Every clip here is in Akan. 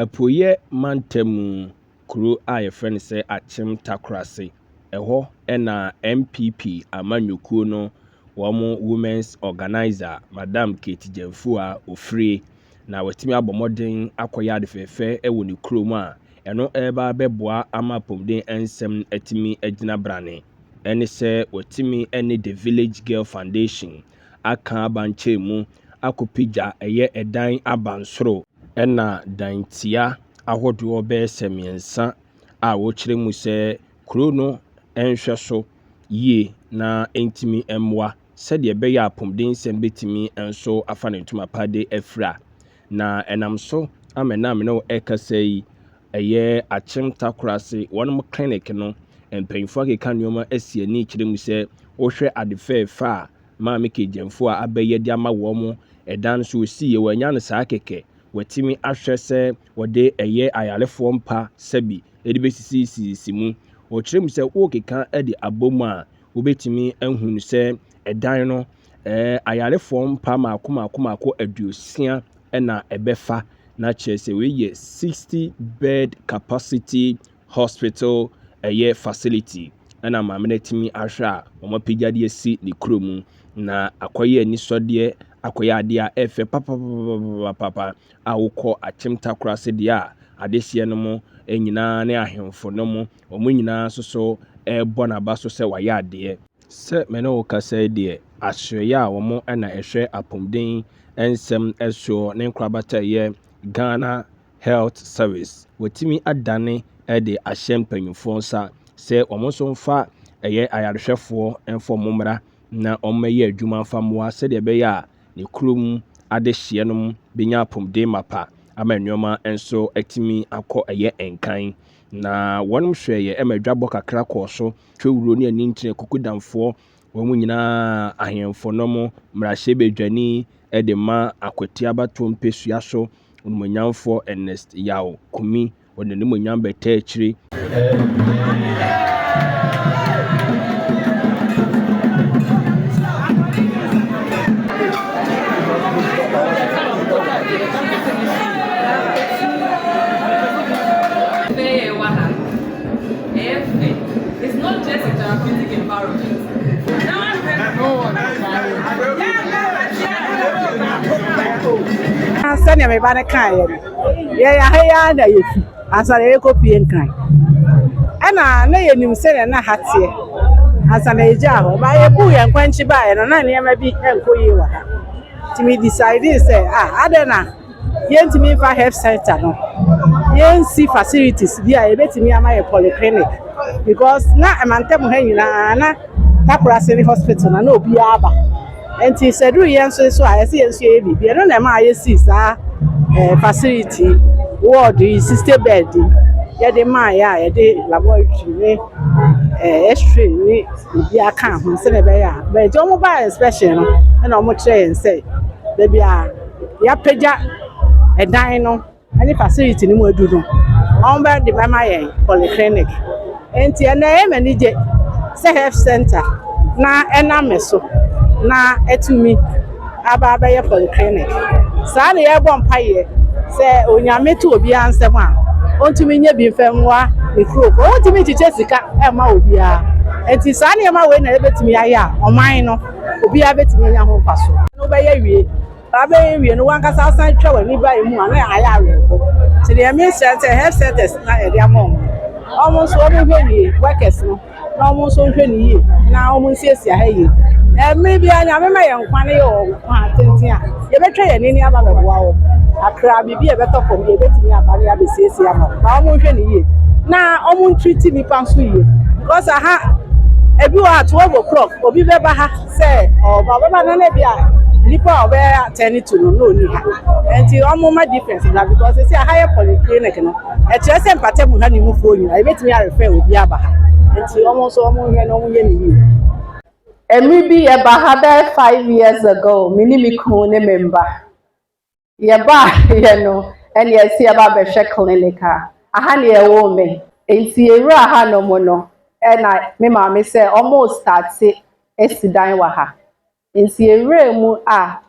Apueeɛ mantamu kuro a yɛfrɛ no sɛ Akyem Takorase, ɛhɔ na NPP amanyɔkuo no wɔn Women's Organiser Madam Kate Gyamfua ɔfirie na watumi abɔ mmɔden akɔyɛ ade fɛfɛ wɔ ne kurom a ɛno reba abɛboa ama apɔmuden nsɛm no atumi agyina brane. Ɛne sɛ watumi ne The Village Girl Foundation aka abankyɛɛ mu akɔpagya ɛyɛ ɛdan abansoro. Ɛna dantia ahodoɔ bɛyɛ sɛ mmiɛnsa a wɔkyerɛ mu sɛ kuro no nhwɛso yie na ɛntumi mmoa sɛdeɛ ɛbɛyɛ a apomdensɛm bɛtumi nso afa ne ntoma pa de afira. Na ɛnam so ama ɛnnɛ a me ne wo rekasa yi, ɛyɛ Akyem Takorase wɔn clinic no mpanyinfoɔ akeka nneɛma asi ani kyerɛ mu sɛ wohwɛ ade fɛɛfɛ a Maame Kegyamfo a aba yi de ama wɔn ɛdan no so osi yɛ wɔanya no saa kɛkɛ wɔatumi ahwɛ sɛ wɔde ɛyɛ ayarefoɔ mpa sɛbi de bɛsisisisi mu. Wɔkyerɛ mu sɛ worekeka de abɔ mu a wobɛtumi ahunu sɛ ɛdan no Ɛɛ, ayarefoɔ mpa mmaako mmaako mmaako aduosia na ɛbɛfa, na kyerɛ sɛ wei yɛ sixty bed capacity hospital ɛyɛ facility ɛna maame no atumi ahwɛ a wɔn apagya de asi ne kuro mu na akɔyɛ anisɔdeɛ akɔyɛ adeɛ a ɛfɛ papapapapapa a wokɔ akyem takora se deɛ a adehyeɛ no mo nyinaa ne ahemfo no mo wɔn nyinaa nso so ɛrebɔ n'aba so sɛ wayɛ adeɛ. Sɛ me ne wo kasa yi deɛ, asereɛ a wɔn na ɛhwɛ apomuden nsɛm soɔ ne nkorabata yɛ Ghana Health Service, wɔatumi adane de ahyɛ mpanyinfoɔ nsa sɛ wɔn nso mfa ɛyɛ ayarehwɛfoɔ mfa wɔn mmra na wɔn mmɛyɛ adwuma mfa mmoa sɛdeɛ ɛbɛyɛ a ne kurom adehyeɛ nom bɛnya apomuden mapa ama nneɛma nso atumi akɔ ɛyɛ nkan. Na wɔn hwɛeɛ ma adwabɔ kakra kɔɔ so Twawuro ne Aninkyerɛ Kukudamfoɔ, wɔn nyinaa ahemfo no mo mmarahyɛbadwani de ma Akwati abatoɔ mpesua so onimuonyamfoɔ Ernest Yaw Kumi, wɔde n'animuonyam bɛtaa akyire. Sɛnea me ba no kaeɛ no, yɛyɛ ha yi ara na yɛfi ansa na yɛrekɔpue Nkran. Ɛna na yɛnim sɛnea na ha teɛ ansa na yɛgyaa hɔ. Ba yɛbuu yɛn kwankyi baeɛ no, na nneɛma bi nkɔ yie wɔ ha. Nti me decide sɛ, ah, adɛn na Yɛntumi mfa health centre no yɛnsi facilities bi a yɛbɛtumi ama yɛ polyclinic because na mantam ha nyinaa na Takorase ne hospital na na obiara ba nti sɛ duru yɛn nso so a yɛsɛ yɛn nso yɛyɛ biribi ɛno na ɛma a yɛsi saa eh, facility ward yi sixty bed yi yɛde maa yɛ a yɛde laboratory ne eh, x-ray ne obi aka ho sɛdeɛ ɛbɛyɛ a bɛgye wɔn ba inspection no ɛna wɔn kyerɛ yɛn sɛ baabi a yɛapagya dan no ne facility no mu adu no, wɔbɛde bɛma yɛn polyclinic. Nti ɛnnɛ ɛyɛ me anigye sɛ health center na ɛnam me so na atumi aba abɛyɛ polyclinic. Saa na yɛbɔ mpaeɛ sɛ Onyame to obiara nsam a, ɔntumi nyɛ bi mfa mmoa ne nkurɔfoɔ. Wɔntumi nkyekyɛ sika mma obiara. Nti saa nneɛma wei na yɛbɛtumi ayɛ a ɔman no obiara bɛtumi anya ho mfasoɔ. na wobɛyɛ awie, baa bɛyɛ awie no wankasa asan twa w'ani ba ɛmu a na ayɛ awerɛho, nti deɛ mesrɛ sɛ health centers na yɛde ama wɔn no wɔn nso wɔn hwɛ yie workers no na wɔn nso nhwɛ no yie na wɔn nsiesie ha yie, mmerɛ biara Nyame ma yɛn nkwa no yɛ ɔnkwa tenten a. Yɛbɛtwa yɛn ani ama bɛboa wɔn kakra, biribi a ɛbɛtɔ fam deɛ yɛbɛtumi aba ne abɛsiesie ama wɔn. Na wɔn nhwɛ no yie, na wɔn ntreati nnipa nso yie, because aha ebi wɔ ha twelve o'clock obi bɛba ha sɛ ɔba ɔbɛba no na ebi a nipa a ɔbɛ attend to no na ɔni ha, nti wɔn ma difference bra because sisi aha yɛ polyclinic no, ɛkyerɛ sɛ mpata mu ha ne mufoɔ nyinaa yɛbɛtumi arefer obi aba ha, nti wɔn nso wɔn nhwɛ na wɔn yɛ no yie. Mmere bi yɛba ha bɛyɛ five years ago, me ne me kunu ne me mma. Yɛbaeɛ no, ɛne yɛsi yɛba bɛhwɛ clinic a, aha ne yɛwoo me. Nti yɛwura ha nom no, ɛna me maame sɛ ɔmo starte asi dan wɔ ha. Nti yɛwura mu a,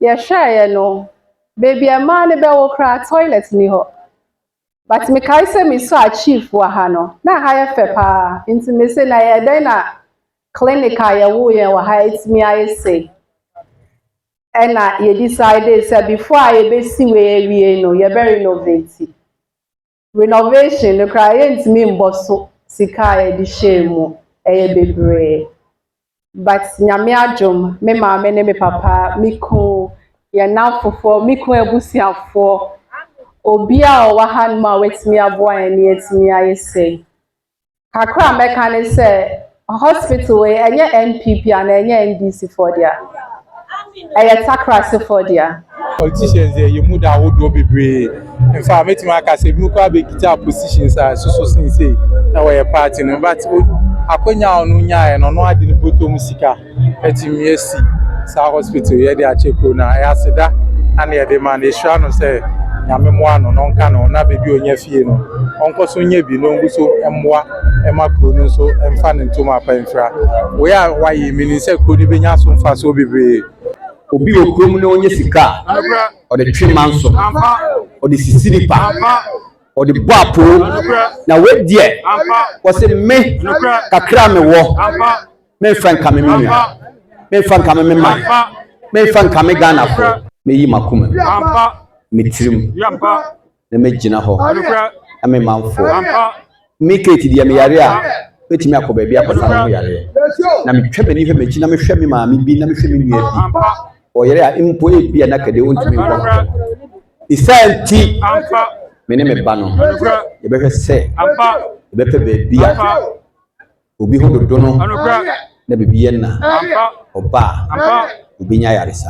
yɛhwɛeɛ no, baabi a mmaa no bɛwo koraa toilet nni hɔ. But mekae sɛ me saw chief wɔ ha no, na ɛha yɛ fɛ paa, nti me se na ɛyɛ dɛn na clinic a yɛwoo yɛn wɔ ha atumi ayɛ sei? Ɛna yɛ decidee sɛ before a yɛbɛsi wei awie no, yɛbɛ renovate. Renovation no koraa yɛntumi mmɔ so sika a yɛde hyɛɛ mu, ɛyɛ bebree. But Nyame adom me maame ne me papa, me kun, yɛn nnamfofoɔ, me kun abusuafoɔ, obia a ɔwɔ hanom a watumi aboa yɛn na yɛatumi ayɛ sei. Kakra a mɛka ne sɛ, hospital wei ɛnyɛ NPP anaa ɛnyɛ NDC foɔ dea. ɛyɛ Takrasefoɔ dea. Politicians deɛ yɛn mu da ahodoɔ bebree. In fact, mɛtumi aka sɛ ebinom koraa bɛkita positions a ɛsoso sen sei na wɔyɛ party no. But akwanya a ɔno nyaeɛ no, ɔno ade ne bɔtɔ mu sika atumi asi saa hospital yɛde akyɛ kuro no a ɛyɛ aseda na ne yɛde ma no. Yɛhyira no sɛ nyame mmoa no na ɔnka no na baabi a ɔnya fie no ɔnkɔ so nyɛ bi na ɔngu so mmoa mma kuro no nso mfa ne ntom apa mfira. Wei a wɔayɛ menim sɛ kuro no bɛnya so mfasoɔ bebree. Obi wɔ kurom na ɔnya sika a, ɔde twe manso, ɔde sisi nipa, ɔde bɔ apoo. Na wei deɛ, wɔse me kakra a mewɔ, memfa nkame me nua, memfa nkame me man, memfa nkame Ghanafoɔ. Mɛyi m'akoma mu, me tirim. na mɛgyina hɔ na me manfoɔ me kate deɛ meyare a mɛtumi akɔ baabi akɔsa me ho yareɛ na metwa m'ani hwɛ m'akyi na mehwɛ me maame bi na mehwɛ me nua bi ɔyere a mpo ebi a na kɛdeɛ ɔntumi nkɔ ho ɛsiane nti me ne me ba no yɛbɛhwɛ sɛ yɛbɛpɛ baabi a obi ho dodo no na biribi yɛ na ɔbaa obi nya yaresa